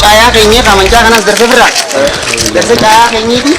Caayaa keenyee kaamanjaa kanas darbe birra. Darbe caayaa keenyeeti.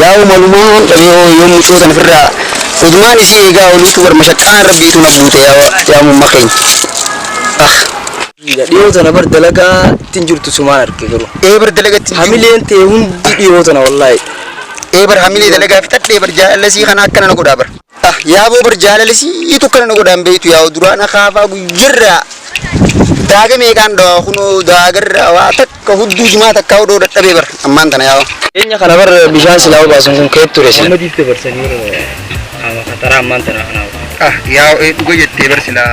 Yaa'u malumaan dhabee hoo yoom mucoo tana firraa udumaan isii eegaa oluutu bar mashaqqaan rabbiitu na buute yaa mumma keenya ah. Dhiyoo tana bar dalagaa ittin jirtu sumaan arge garuu. Ee bar dalaga ittin jiru. Hamileen tee hundi dhiyoo tana wallaahi. Ee bar hamilee dalagaa fixadhee bar jaalallasii kana akkana na godhaa bar. Ah yaaboo bar jaalalisiitu akkana na godhaan beektu yaa'u duraan akaafaa guyyarraa daaga meeqaan dhawaa kunoo daagarraa waa takka hudduu jimaa takkaa odoo dadhabee bar ammaan tana yaa'u. Dhiyeenya kana bar bishaan silaa obaasan kun keet ture sila. Amma diitte barsanii yeroo qaama kataraa ammaan tana kanaaf. Ah yaa'u ee dhuga jettee bar silaa.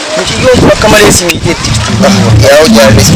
Mucayyoo tun akka malee si miidheetti jirti. Yaa hojii haalli si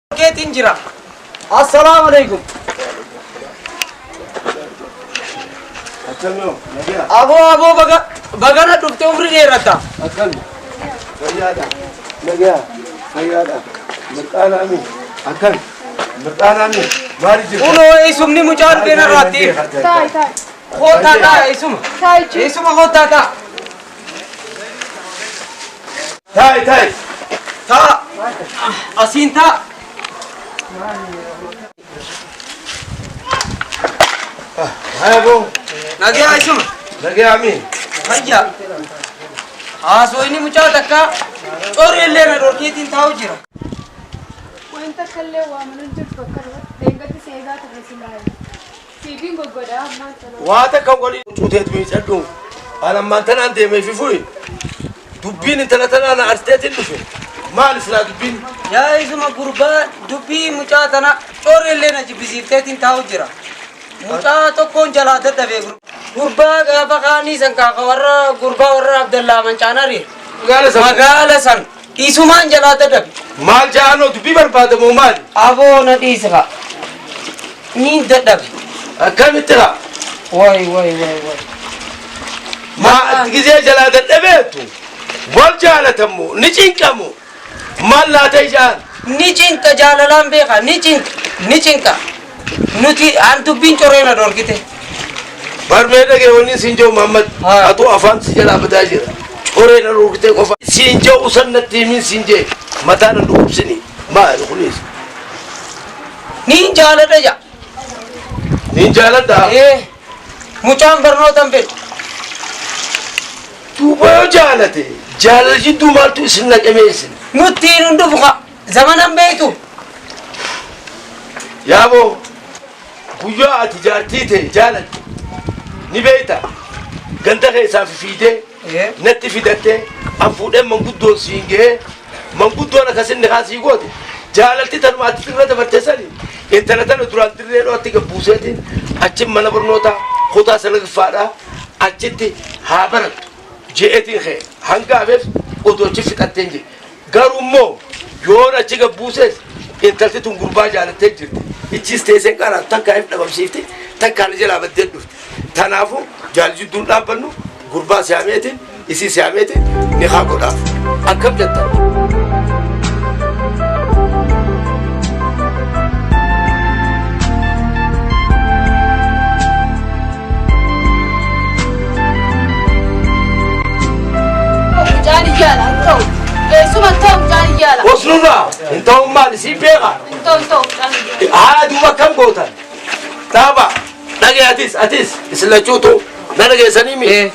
keetiin jira. Assalaamu alaikum. Aboo aboo baga bagana dhufte umri dheerata. Akkami. Fayyaadha. Nagaa. Fayyaadha. Mirqaana ami. Akkami. Mirqaana ami. Maali jirta? Kunoo eessumni mucaa dhufeen irraatti. Kootaa ta'a eessuma. Eessuma kootaa ta'a. Taa'i taa'i. Taa'a. Asiin taa'a. Haya boo. Nagaa ishuma. Nagaa amii. Fayyaa. Haasoo inni mucaa takkaa corri illee na dhorkeetiin taa'u jira. Wanta kallee waamanan jirtu akka dheengaddi seegaa turre silaayi. Siifin goggodhaa ammaan tanaa. Waa takka waliin huccuu teetu miicadhu. An ammaan tanaan deemee fi fuyi. Dubbiin intala tanaa na arteetiin dhufe. Maali silaa dubbiin? Yaa isuma gurbaa dubbii mucaa tana coorri illee na jibbisiifteetiin taa'u jira. Mucaa tokkoon jalaa dadhabee gurbaa. Gurbaa gaafa kaanii san kaa ka warra gurbaa warra Abdallaa Mancaanari. Magaala san. Magaala san. Dhiisumaan jalaa dadabe. Maal ja'anoo dubbii barbaada moo maali? Aboo na dhiisi kaa. Niin dadhabe. Akkamitti kaa? Way way way way. Maa atti gizee jalaa dadhabeettu? Wal jaalatammo ni cinqamo. Maal laata ijaan? Ni cinqa jaalalaan beeka ni cinqa ni cinqa. Nuti an dubbiin coree na dhorgite. Bar mee dhagee wanni siin ja'u Mahammad atuu afaan si jalaa badaa jira coree na dhorgitee qofa siin ja'u san natti himiin siin ja'e mataa na dhukubsini maali kunis. Niin jaaladha ja'a. Niin jaaladha. Ee mucaan barnoota hin fedhu. Duuba yoo jaalate jaalala jidduu maaltu isin naqemee isin. Nuttiin hin dhufu ka. Zamanan beektu. Yaaboo guyyaa ati jaartii tee jaalatte ni beekta ganda keessaa fi fiidee Ee. natti fidattee an fuudhee manguddoon siin gahee manguddoon akkasin nikaa sii goote jaalalti tanuma ati xirra dabartee sani intala tana duraan dirree dho'atti gabbuuseetiin achi mana barnootaa kutaa salagaffaadhaa achitti haa barattu je'eetiin kee hanga hafeef odoo achi fixatteen jee Garuu immoo yoon achi gad buuses intalti tun gurbaa jaalattee jirti. Ichiis teesseen qaraan takka if dhabamsiifti takka ani jalaa baddee dhufti. Tanaafuu jaal jidduun dhaabbannu gurbaa siyaameetiin isii siyaameetiin nikaa godhaaf. Akkam jettan? Mucaan iyyaala hin ta'u. Eessuma hin ta'u mucaan iyyaala. Osnurraa hin ta'uun maali siif beekaa? Hin ta'u hin ta'u mucaan iyyaala. Haa duuba akkam gootan? Dhaaba dhagee atis atis isin lachuutu na dhageessanii mi?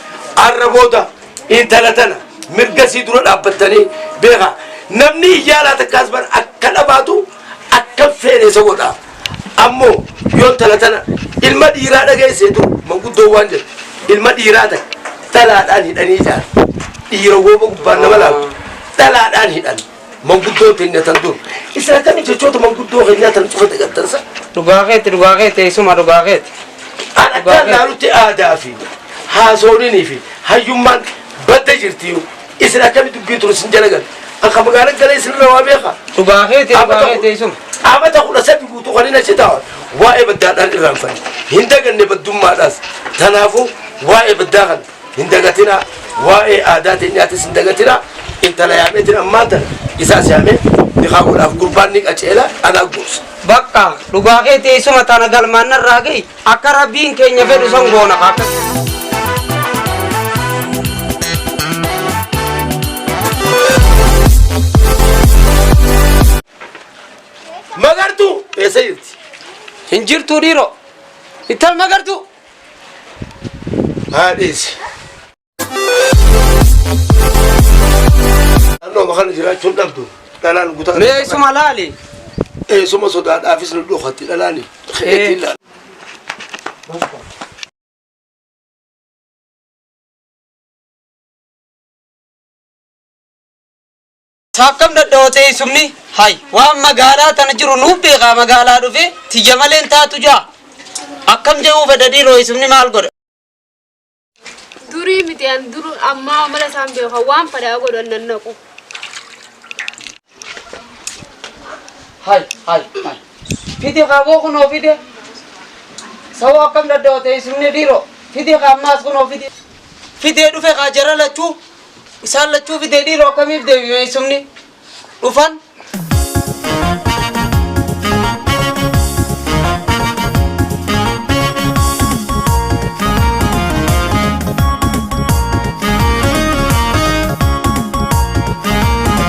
Arra booda intala tana mirga sii dura dhaabbattanii beekaa. Namni iyyaalaa takkaas bar akka dhabaatu akka feene isa godha. Ammoo yoo intala tana ilma dhiiraa dhageessee dur manguddoon waan jedhu ilma dhiiraa ta'e dhalaadhaan hidhanii jaala. Dhiira wooba gubbaan nama laalu dhalaadhaan hidhan manguddoon teenya tan dur. Isin akkamiin jechoota manguddoo keenyaa tan cufa dagattan san? Dhugaa keeti dhugaa keeti eessuma dhugaa keeti. An addaan laalutti aadaa fi haasooninii fi hayyummaan badda jirti. Isin akkami dubbii turu isin jala gale. An ka magaala gale isin irra waa beeka. Dhugaa keeti Amata dhugaa keeti isuma. amata kudha sadi guutuu kan hin achi taa'an waa'ee baddaadhaan irraanfan hin daganne baddummaadhaas tanaafuu waa'ee baddaa kan hin dagatinaa waa'ee aadaa teenyaatis hin dagatinaa intala yaameetiin ammaan tana isaas yaamee nikaa godhaaf gurbaan ni qaceela anaa gorsa. Bakka dhugaa keeti isuma tana galmaan narraa gahi. Akka rabbiin keenya fedhu san goona ka akka. Magartuu eessa jirti? Hin jirtuu dhiiroo. Ittal magartuu. Haa dhiisi. Naannooma kana jiraachuun dhabdu dhalaan gutaa. Mee eessuma laali. Eessuma sodaadhaafis nu dhokatti dhalaani. Ittiin laala. Saakkam dadhawootee eessumni hay waan magaalaa tana jiru nuuf beekaa magaalaa dhufe tiyya malee hin taatu jaa akkam jedhuu fedha dhiiroo eessumni maal godha. Durii miti an duru ammaa mala isaan beeku waan fadhaa godhu an nannaqu. Hai, hai, hai. Fidi kaaboo kunoo fide. Sawoo akkam daddawa teessumni dhiiroo. Fidi kaammaas kunoo fide. Fidee dhufe kaa jara lachuu. Isaan lachuu fidee dhiiroo akkamiif deebi teessumni. dhufan.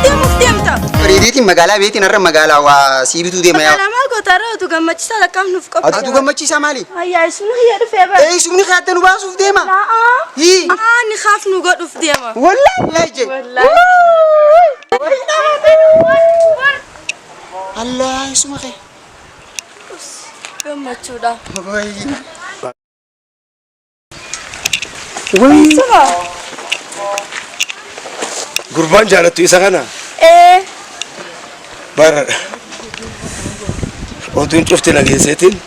Deemuuf deemta. Riiriitiin magaalaa beetiin har'a magaalaa waa sii bituu deema yaa. Magaalaa maal goota irra utuu gammachiisaa lakkaaf nuuf qophii. Atuu gammachiisaa maali? Ayyaa isuma hiyya dhufee bara. Eeysumni kaadda nu baasuuf deema. La'aa. Hii. Aa ni kaaf nu godhuuf deema. Wallaahi laajee. Allaa isuma kee. Gammachuudha. Gurbaan jaalattu isa kana Ee. bara oduun cufti nageesseetiin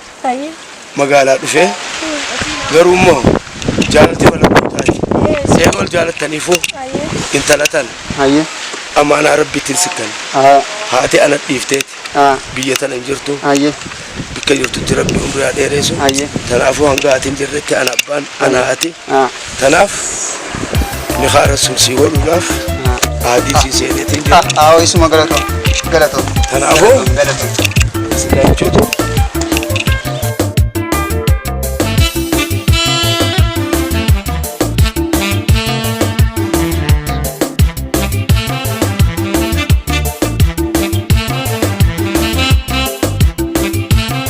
magaalaa dhufee garuu immoo jaalalti mana gootaati see ol jaalattaniifuu intala tana Hayyee. amaanaa rabbiitiin sikkan Haa. haati ana dhiifteeti Haa. biyya tana hin jirtu Hayyee. bikka jirtutti rabbi umrii haa dheereessu Hayyee. tanaafuu hanga haati hin jirretti ana abbaan ana haati Tanaaf nikaa rasuul sii godhuudhaaf aadii sii seeneetiin jira. Aawoo isuma galatoo. Galatoo. Kanaafuu Galatoo. sila jechuutu